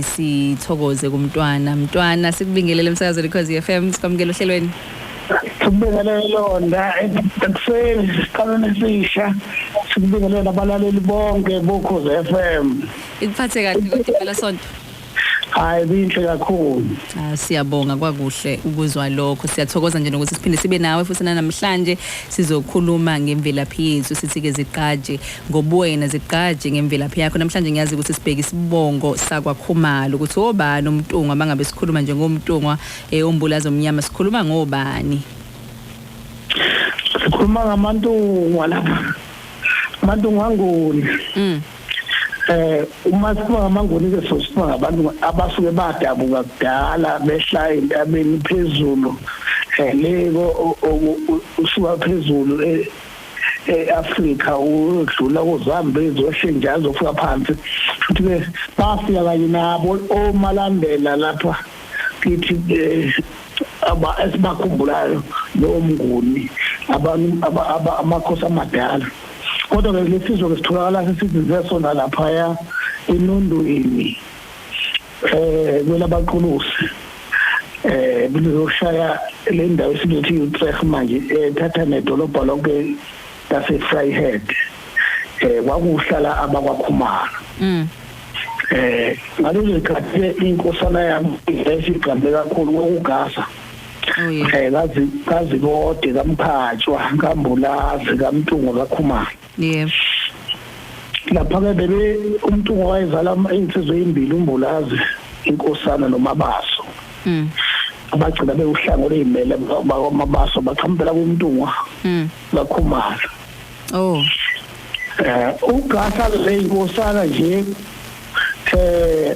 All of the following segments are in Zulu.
sithokoze kumntwana mntwana sikubingelele emsakazweni cause FM sikwamukela ohlelweni sikubingelele londa ekuseni siqalweni esisha sikubingelele nabalaleli bonke bokhoze FM ikuphathe kahle kodwa phela sonto hayi binhle kakhulu ah siyabonga kwakuhle ukuzwa lokho siyathokoza nje nokuthi siphinde sibe nawe futhi namhlanje sizokhuluma ngemvelaphi yethu sithi ke ziqaje ngobuwena zigqaje ngemvelaphi yakho namhlanje ngiyazi ukuthi sibheke isibongo sakwakhumalo ukuthi obani umntungwa mangabe sikhuluma njengomntungwa eh umbulazi omnyama sikhuluma ngobani sikhuluma ngamantungwa lapha amantungwa angoni mm eh uma sikhuluma ngamangoni ke sosikhuluma ngabantu abasuke badabuka kudala behla entabeni phezulu eh leko usuka phezulu eh, e-Afrika udlula kuZambezi wehle nje azofika phansi futhi ke bafika kanye nabo omalandela lapha kithi eh, aba esibakhumbulayo lowo mnguni amakhosi amadala kodwa ke lesizwe ke sitholakala sesizinze sona laphaya enondweni eh kumele abaquluse eh kuzoshaya le ndawo esizothi uTref manje ethatha nedolobha lonke lase Vryheid eh kwakuhlala abakwakhumalo mm eh ngalezo zikhathi inkosana yami isigqambe kakhulu kokugasa oh, eh kazi kazi kode kamphatshwa kambulazi kamtungo kakhumalo yebo lapha-ke bebe umuntu owayezala iy'nsizwa ey'mbili umbulazi inkosana nomabaso mm. abagcina bewuhlanga oluyimele bakwamabaso baqhamukela kumntungwa mm. bakhumala oh eh ugasa leyinkosana nje eh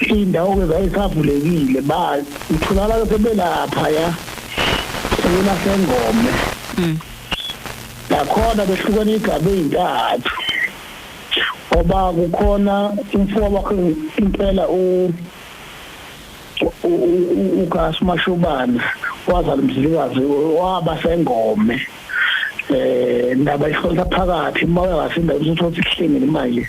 iy'ndawo-ke zayisavulekile ba utholakala sebelapha ya sebelahengome mm. nakhona behlukana iy'gaba ey'ntathu ngoba kukhona umfoka wakhe impela uGas Mashobana wazala umzilikazi waba sengome eh ndaba ihlonza phakathi moya wasinda ukuthi uhlengile manje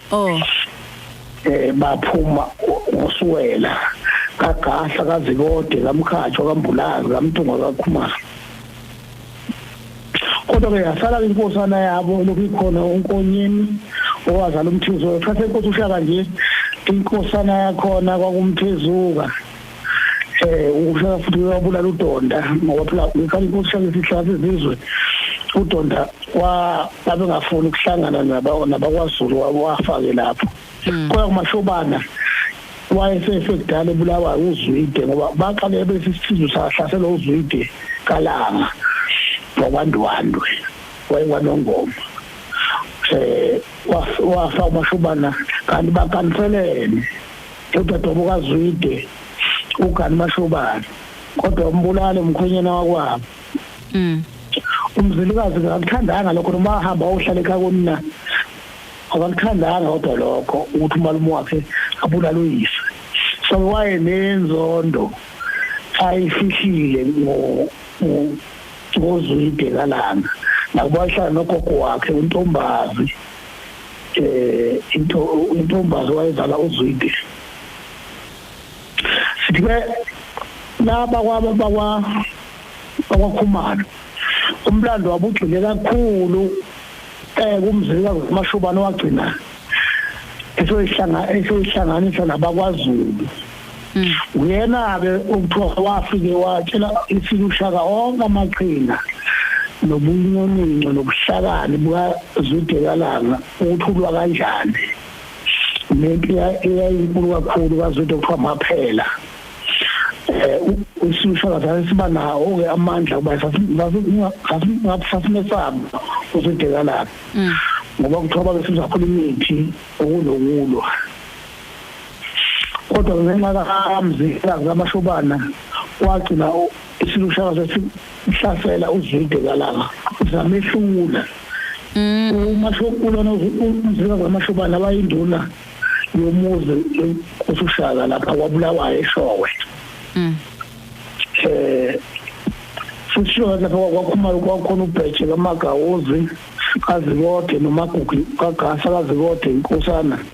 oh eh baphuma ngosuwela kagahla kazikode kamkhatshwa kambulazi kamthunga kakhumalo kodwa-ke yasala inkosana yabo lokhu ikhona unkonyeni owazala umthizuka kuthatha inkosi ushaka nje inkosana yakhona kwakumthizuka eh uhlala futhi uyabulala udonda ngoba phela ngikhathi kuhlala isihlala izizwe udonda wa babengafuni ukuhlangana nabakwaZulu wafake lapho hmm. kodwa kumashobana wayesefekudala ebulawa uzwide ngoba baqale bese isizwe sahlasela uzwide kalanga wakwandiwandwe wayekwanongoma eh wafa umashubana kanti bakanselene Udadewabo kaZwide, uGani Mashobane, kodwa umbulale umkhwenyana wakwabo. Mm. Umzilikazi akakuthandanga lokho noma ahamba ohlale ekhaya konina. Akakuthandanga kodwa lokho ukuthi umalume wakhe abulale uyise. So waye nenzondo ayifihlile ngo ngozwide kalanga. Nakuba ehlala nogogo wakhe uNtombazi. eh into intombazi wayezala uzwide sithi ke laba kwaba bakwa bakwakhumalo umlando wabugcine kakhulu eh kumzila kumashubana wagcina esoyihlanga esoyihlanganisa nabakwaZulu Mm. uyena-ke okuthiwa wafike watshela isile ushaka onke amaqhinga nobunyonino nobuhlakani bukazudekalanga ukuthi ulwa kanjani nempi eyayinkulu kakhulu kazude kuthiwa maphela um usushaka sase siba nawo-ke amandla kuba sasimesaba uzudekalanga mm. ngoba kuthiwa babe sizakhula imithi okunokulwa kodwa ngenxa kamzilikazi kaMashobana wagcina isilushaka sesihlasela uZwide kalanga zamehlula mm. uMashobana umzilikazi kaMashobana abayinduna yomuzi usushaka lapha kwabulawayo eshowe mm. eh sishowe lapha kwakhumalo kwakhona ubheje kamagawuzi kazikode nomagugu kagasa kazikode inkosana mm.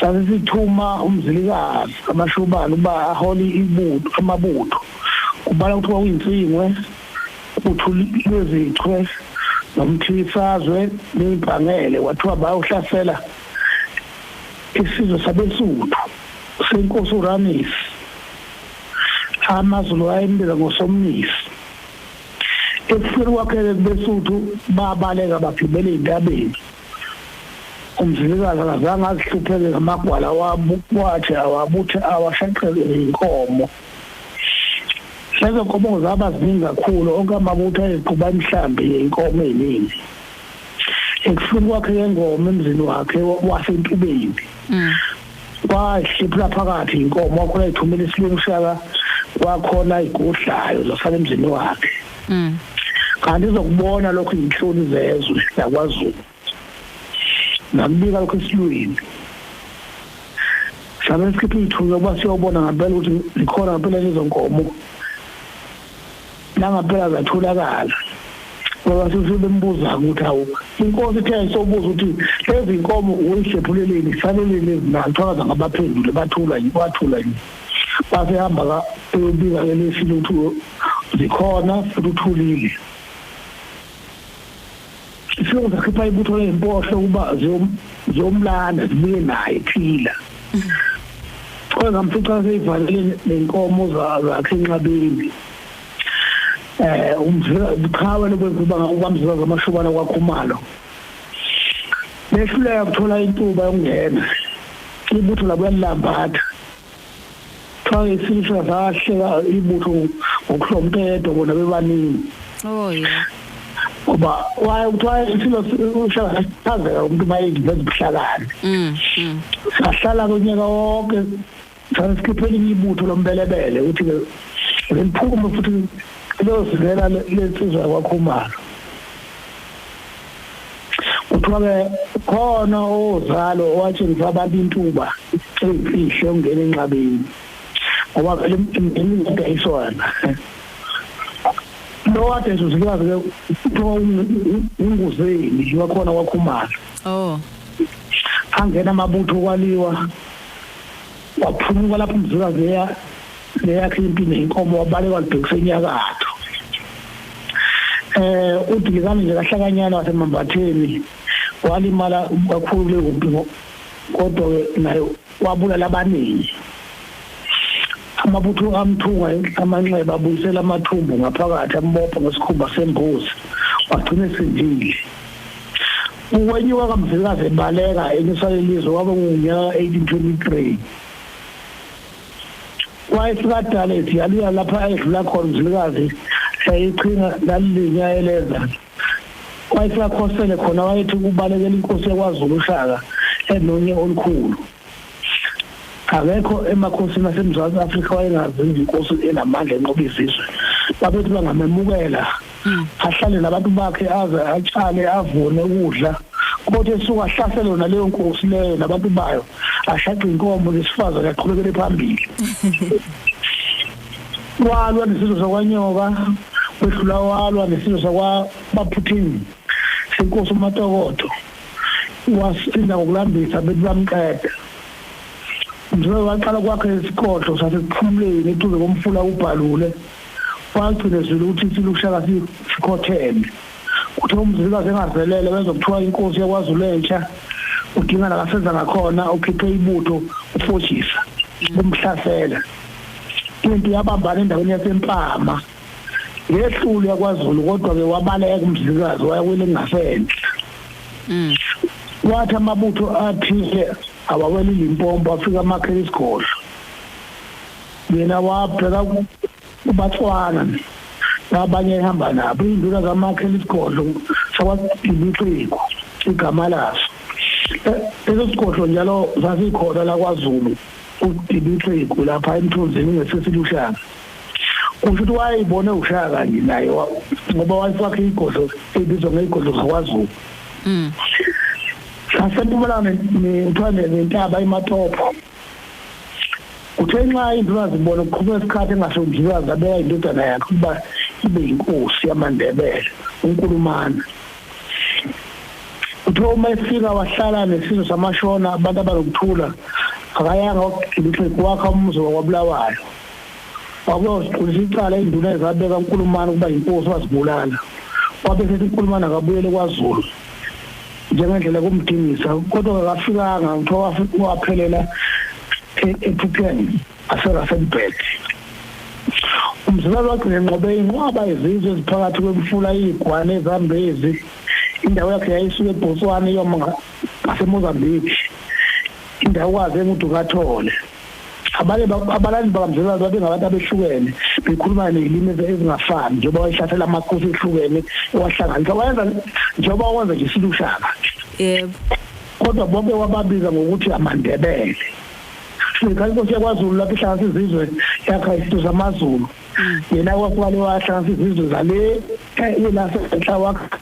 Sase sithuma uMzilikazi kaMashobane ukuba ahole ibutho amabutho kubala kuthiwa uyinsingwe uthulilwezichwe nomthilisazwe neyimpangele kwathiwa bayawuhlasela isizwe sabesuthu senkosi uramisi amazulu ayembiza ngosomnisi ekufeni kwakhe-ke kubesuthu babaleka bagibela ey'ntabeni umzilikazi akazange azihlupheke ngamagwala wathi awabuthe awashaqelwe yinkomo lezo nkomo zaba ziningi kakhulu onke amabutho ayeqhuba imihlambi yenkomo eyiningi ekufuni kwakhe yengoma emzini wakhe wasentubeni mm. kwahliphula phakathi inkomo wakhona ithumela isilungu shaka kwakhona igudlayo zasala emzini wakhe mm. kanti izokubona lokho inhloni zezwe yakwazulu ngakubika lokho esilwini sabe sikhipha ithunya uba siyobona ngempela ukuthi likhona ngempela lezonkomo nangampela zatholakala ngoba sesibembuza ukuthi hawu inkosi ithe sobuza ukuthi lezi nkomo uyihlephuleleni saleleni ezinani thakaza ngabaphendule bathula yini bathula yini basehamba ka eyobika ke lesini ukuthi zikhona futhi uthulile Isihlobo sakhipha ibutho ley'mpohlo ukuba ziyomlanda zibuye naye phila. Kodwa ngamfica seyivalele nenkomo zakhe enxabeni. Eh umzila ubuqhawe lokwenziba ngakukamzila zamashubana kwakhumalo. Behluleka kuthola intuba yokungena. Ibutho labuya lilambatha. Kuthiwa isilisa sahleka ibutho ngokuhlompedo bona bebaningi. Oh yeah. Ngoba waye kuthiwa isilo ushaka sithazeka umuntu mayedla ezibuhlakani. Mm. mm. Sahlala konyaka wonke sasikhiphe elinye ibutho lombelebele uthi ke liphume futhi lozivela lensizwa kwakhumalo. kuthiwa-ke khona ozalo owatshengisa abantu intuba eyimfihlo yokungena enqabeni ngoba vele emndenini kudayiswana lo wadayisa usikazi-ke kuthiwa unguzeni wakhona kwakhumalo oh angena amabutho kwaliwa Waphunyuka lapho umzikazi eya neyakhe impi nenkomo wabaleka walibhekisa enyakatho. Eh uDilikane nje kahlakanyana waseMambatheni walimala kakhulu kule kumpi kodwa-ke naye wabulala abaningi. Amabutho amthunga amanxeba abuyisela amathumbu ngaphakathi ambopha ngesikhumba sembuzi wagcina esindile. ukwenyuka kamzilikazi ebaleka enyusa lelizwe kwaba ngunyaka 1823 wayesikadala esiyalula lapha ayedlula khona umzilikazi yayiqhinga lalilinyaeleza wayesakhosele khona wayethi ukubalekela inkosi yakwazulu ushaka enonye olukhulu akekho emakhosini asemzansi afrika wayengazi izinkosi enamandla enqoba izizwe babethi bangamemukela hmm. ahlale nabantu bakhe aze atshale avune ukudla kodwa esuka ahlasele yona leyo nkosi leyo nabantu bayo ashaqe inkomo lesifazane aqhubekele phambili walwa nesizwe sakwanyoka wehlula walwa nesizwe sakwabaphuthini senkosi umatokoto wasinda ngokulambisa bethi bamqeda. Mzwelo waqala ukwakha isigodlo saseSiphumuleni eduze komfula uBhalule, wagcina ezwile ukuthi isilo uShaka sikhotheme. Kuthe uMzilikazi engazelele wenza okuthiwa inkosi yaKwaZulu entsha, udinga nakasenza ngakhona ukhiphe ibutho ufojisa kumhlasela. Impi yabambana endaweni yaseMpama. Yehlule yakwaZulu kodwa ke wabaleka umzilikazi waya kwelingasenhla. Mm. Wathi amabutho athile awawela izimpompo afika amakhela isigodlo. Yena wabheka kubatswana nabanye ehamba nabo induna kamakhela isigodlo sakwaDiliqiko igama laso. E-, Leso sigodlo njalo sasikhona lakwaZulu uDiliqiko lapha emthunzini ngesesiluhlanga. kusho ukuthi wayeyibona ewushaya kanje naye ngoba wayefakhe iy'godlo ebizwa ngey'godlo zakwazulu mm. sasempumalanga kuthiwa nentaba imatopho kuthiwa inxa indlulazi ibona kuqhubeka isikhathi engasho ndlulazi abeka indodana yakhe ukuba ibe yinkosi yamandebele unkulumana kuthiwa uma efika wahlala nesizwe samashona abantu abanokuthula akayanga wakugilixi kwakha umuzi wakwabulawayo Wabuya wasiqulisa icala induna ezabeka uNkulumane ukuba yinkosi wazibulala. Wabe sethi uNkulumane akabuyele kwaZulu njengendlela kumdingisa kodwa akafikanga kuthiwa waphelela e-, ephupheni aseRasenburg. Umzilalo wagcina enqobe inqwaba izizwe eziphakathi kwemfula iyigwane ezambezi indawo yakhe yayisuka eBotswana iyoma ngaseMozambique indawo kwaze nguDukathole. abanye abalali bakamzilwane babengabantu abehlukene bekhuluma nezilimi ezingafani njengoba wayehlasela amakhosi ehlukene owahlanganisa wayenza njengoba wenza nje silushaka yebo kodwa bonke wababiza ngokuthi amandebele sikhathi inkosi yakwazulu lapho ihlanganisa izizwe yakha izinto zamazulu mm. yena kwakubalewahlanganisa izizwe zale eh, yelasenhla wakha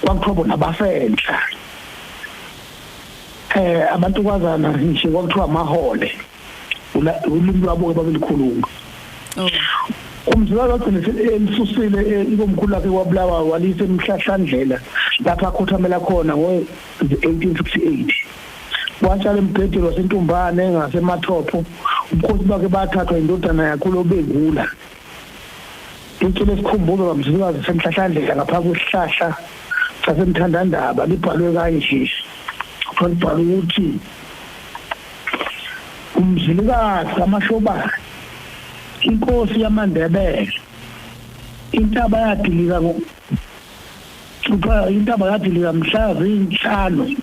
kwakuthiwa bona basenhla eh abantukazana nje kwakuthiwa amahole ulimi lwabo babelikhuluma oh. umzala wagcina elisusile eh, ikomkhulu lakhe kwabulawa walise emhlahlandlela lapha akhothamela khona ngo-1868 watshala embhedeni wasentumbane ngasemathopo ubukhosi bakhe bathathwa indodana yakhe lobengula Icule isikhumbuzo kaMzilikazi senhlahlandlela ngapha kwesihlahla sasemthandandaba libhalwe kanje kwalibhala ukuthi umzilikazi kamashobane inkosi yamandebele intaba yadilika kuthiwa intaba yadilika mhla zinhlanu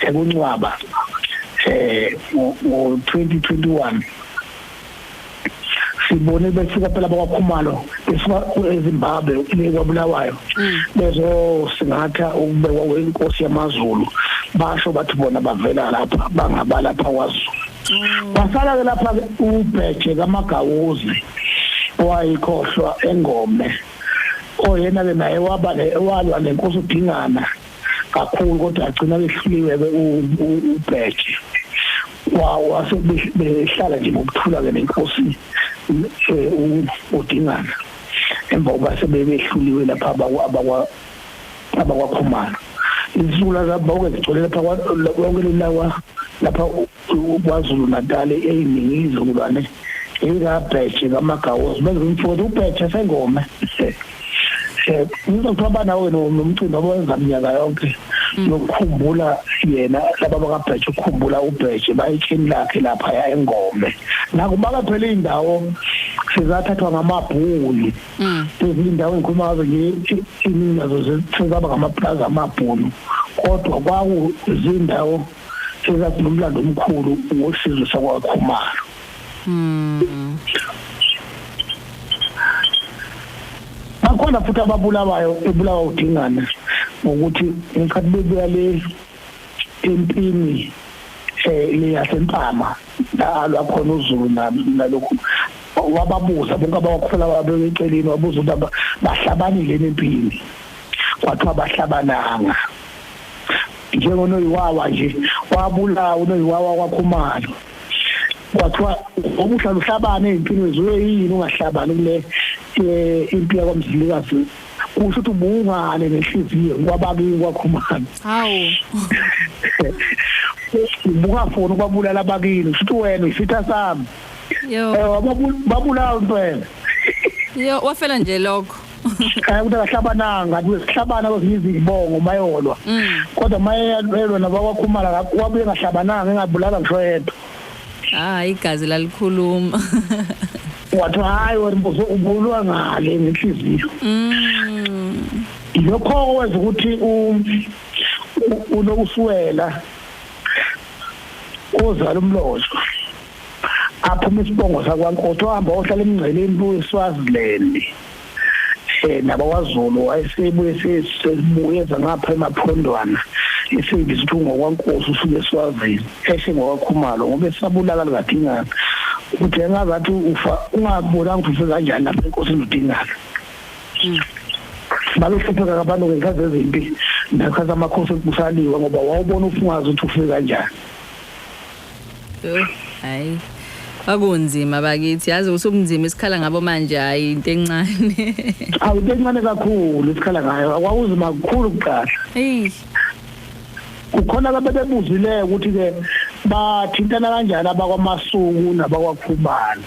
sekuncwaba eh ngo-2021 sibone besuka phela bakwakhumalo besuka ezimbabwe kwabulawayo mm. bezosingatha ukubekwa kwenkosi yamazulu basho bathi bona bavela lapha bangabalapha kwazulu mm. basala-ke lapha ubheje kamagawuzi owayikhohlwa engome oyena-ke naye waba walwa nenkosi udingana kakhulu kodwa agcina behluliwe ke ubheje wase behlala nje ngokuthula ke nenkosi eh, udingana emva kokuba sebebehluliwe lapha abakwakhumana izula zabawuke zigcwele lapha lonke lelawa lapha KwaZulu-Natal eyiningi izizukulwane likabhetshe kamagawozi benza umfoti ubhetshe sengome ngizothiwa banawe nomcimbi abawenza minyaka yonke yokukhumbula hmm. yena laba bakabhetshe ukukhumbula ubhetshe bayitshini lakhe laphaya engome nakubaka phela iy'ndawo sizathathwa ngamabhunu hmm. ezindawo engikhuluma ngazo nje iningi nazo sezaba ngamapulazi amabhunu kodwa kwakuzindawo Siza sinomlando omkhulu wosizwe sakwaKhumalo. Mm. Bakhona futhi ababulawayo ebulawa udingane ngokuthi ngikhathi bebuya le empini eh leyasempama nalo khona uZulu nalokho wababuza bonke abawakhula babeceleni wabuza ukuthi bahlabanile empini kwathiwa bahlabananga njengonoyiwawa nje wabulawa unoyiwawa kwakhumalo kwathiwa obuhlala uhlabane ezimpilweni zuye yini ungahlabani kule eh, impi yakwamzilikazi kusho ukuthi ubungane nenhliziyo kwabakini kwakhumalo hawu ubungafuni ukwabulala abakini futhi wena isitha sami yo eh, babulawa impela yo wafela nje lokho eh ukuthi akahlabananga kuhlabana kwezinye izibongo mayolwa mm. kodwa mayelwa nabakwakhumala kwabuye ngahlabananga engabulala ngisho yedwa ah igazi lalikhuluma wathi hayi wena mbuzo ubulwa ngale ngenhliziyo mm. lokho kwenza ukuthi unokuswela ozala umlozwa aphuma isibongo sakwankotho ohamba ohlala emngceleni kuSwaziland eh nabakwaZulu wayesebuye sesibuye ngapha emaphondwana isevisi ukuthi ngokwankosi usuke eswazini eshe ngokwakhumalo ngoba esabulala likadingana ukuthi engazathi ufa ungabonanga ukuthi ufe kanjani lapha enkosini udingana hmm. baluhlupheka abantu ngekhathi ezimpi nakhathi amakhosi ekusaliwe ngoba wawubona ufungazi ukuthi ufe kanjani Yho, hayi kwakunzima bakithi yazi usukunzima isikhala ngabo manje hayi into encane awu into encane kakhulu isikhala ngayo akwawuzima kukhulu kuqala eyi kukhona ababebuzileyo ukuthi-ke bathintana kanjani abakwamasuku nabakwakhumalo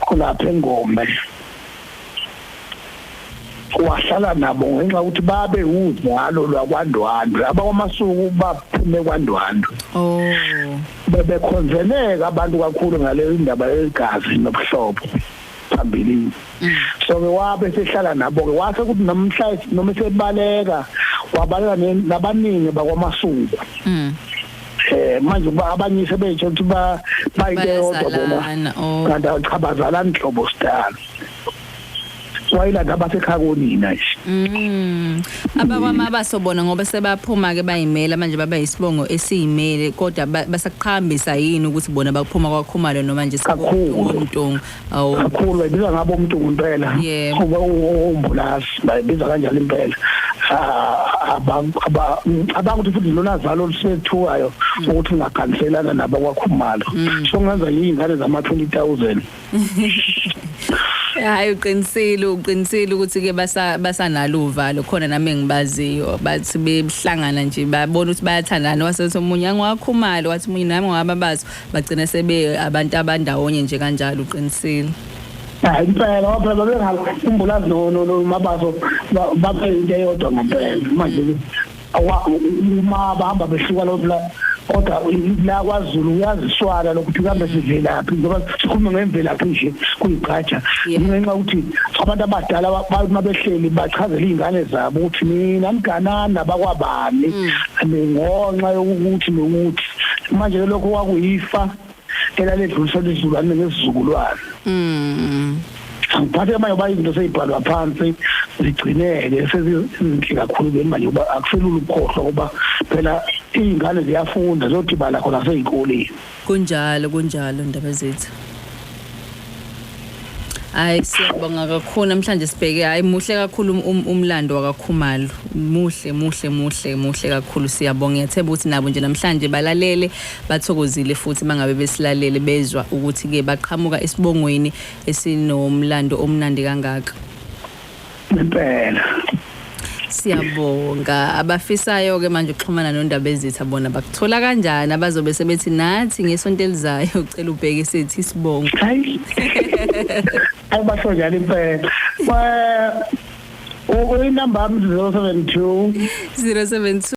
khonapha engome wahlala nabo ngenxa yokuthi babe uzalo lwakwandwandwe abakwamasuku baphume kwandwandwe oh bebekhonzeleka abantu kakhulu ngale ndaba yegazi nobuhlobo phambilini mm. so ke wabe sehlala nabo ke wase kuthi namhla noma sebaleka wabaleka nabaningi bakwamasuku mm. eh manje kuba abanye sebetsho ukuthi ba bayike yodwa bona oh. kanti achabazalani hlobo sidalo wayilanda abasekhaya konina nje mm abakwamaba sobona ngoba sebaphuma ke bayimela manje baba isibongo esiyimele kodwa basakuqhambisa yini ukuthi bona baphuma kwakhumalo noma nje sekuwumtongo Awu. kakhulu bayibiza ngabo umuntu ngempela Yebo. Ube u- umbulasi bayibiza kanjalo impela Ah, aba- aba- abakuthi futhi lona zalo olusethukayo ukuthi ungakhanselana nabakwakhumalo so ngenza iy'ngane zama-twenty thousand Hayi uqinisile uqinisile ukuthi ke basa basanalo uvalo khona nami engibaziyo bathi behlangana nje babona ukuthi bayathandana wasethi omunye angiwakhumali wathi omunye nami ngiwababazo Bagcine sebe abantu abandawonye nje kanjalo uqinisile. Hayi impela waphela bengakhumbulazi no no no mabazo babe into eyodwa ngempela manje uma bahamba behluka lo kodwa la kwaZulu uyaziswala lokuthi kambe sivelaphi ngoba sikhuluma ngemvelaphi nje kuyigqaja ngenxa ukuthi abantu abadala uma behleli bachazela izingane zabo ukuthi mina mganana bakwabani mm. ngonxa yokuthi nokuthi manje ke lokho kwakuyifa elaledluliswa izizukulwane ngezizukulwane mm angiphathe manje uba izinto seyibhalwa phansi zigcineke sezinhle kakhulu ke manje uba akuselula ukukhohlwa kuba phela iy'ngane ziyafunda ziyodibala khona sey'koleni kunjalo kunjalo ndaba zethu Hayi siyabonga kakhulu namhlanje sibheke hayi muhle kakhulu um, um, umlando wakaKhumalo. Muhle muhle muhle muhle kakhulu siyabonga. Ngiyathemba ukuthi nabo nje namhlanje balalele bathokozile futhi mangabe besilalele bezwa ukuthi ke baqhamuka esibongweni esinomlando omnandi kangaka. impela siyabonga abafisayo ke manje ukuxhumana nondaba ezitha bona bakuthola kanjani abazobe sebethi nathi ngesonto elizayo ucela ubheke sethi isibongo hayi abasho njalo impela Well, inamba yami 072 072